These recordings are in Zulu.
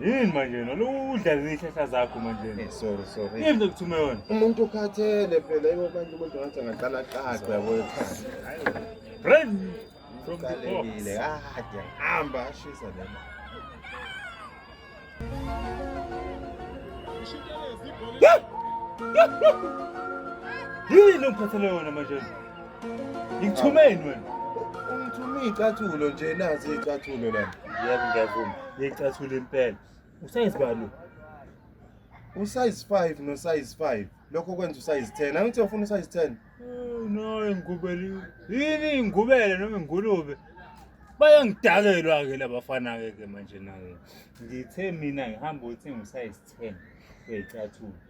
yini manje yena udla zihlahla zakho manje eh, sorry sorry yini ngikuthume yona umuntu ukhathele phela yibo abantu umuntu ngathi angaqala qaqe yabo ekhaya friend from the box kade hamba ashisa lena yini ungiphathele yona manje Ngikuthumeni wena. Ungithume icathulo nje nazi icathulo la. Yebo ngiyavuma. Yecathulo impela. Usayizi bani? Usayizi 5 no size 5. Lokho kwenza usayizi 10. Angithi ufuna usayizi 10. No, ingubeli. Yini ingubele noma ingulube? Bayangidakelwa ke labafana ke manje nayo. Ngithe mina ngihamba uthi ngisayizi 10. Wecathulo.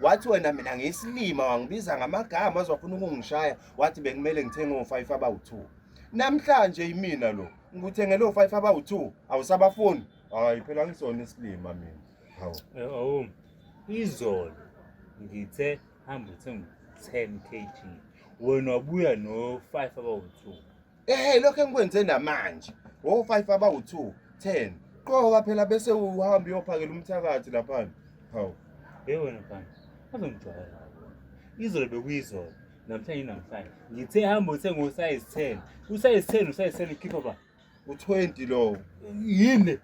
wathi wena mina ngiyisilima wangibiza ngamagama azofuna ukungishaya wathi bekumele ngithenge o-five abawu-two namhlanje yimina lo ngikuthengele o-five abawu-two awusabafuni hayi phela ngisona isilima mina hawu eh, awu izolo ngithe hamba uthenge ten k g wena wabuya no-five abawu-two ehe lokho engikwenze namanje wo-five abawu-two ten qoka phela bese uhambe uyophakela umthakathi laphana hawu hey wena fana azongijwayela izolo bekuyizolo namhlanje namhlanje ngithe hambe uthenge usayizi ten usayizi ten usayizi ten ukhipha ba u-twenty lowo yini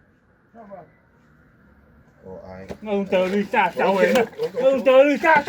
Oh, ay. Ngayon tayo ni Sasha, wala. Ngayon tayo ni Sasha.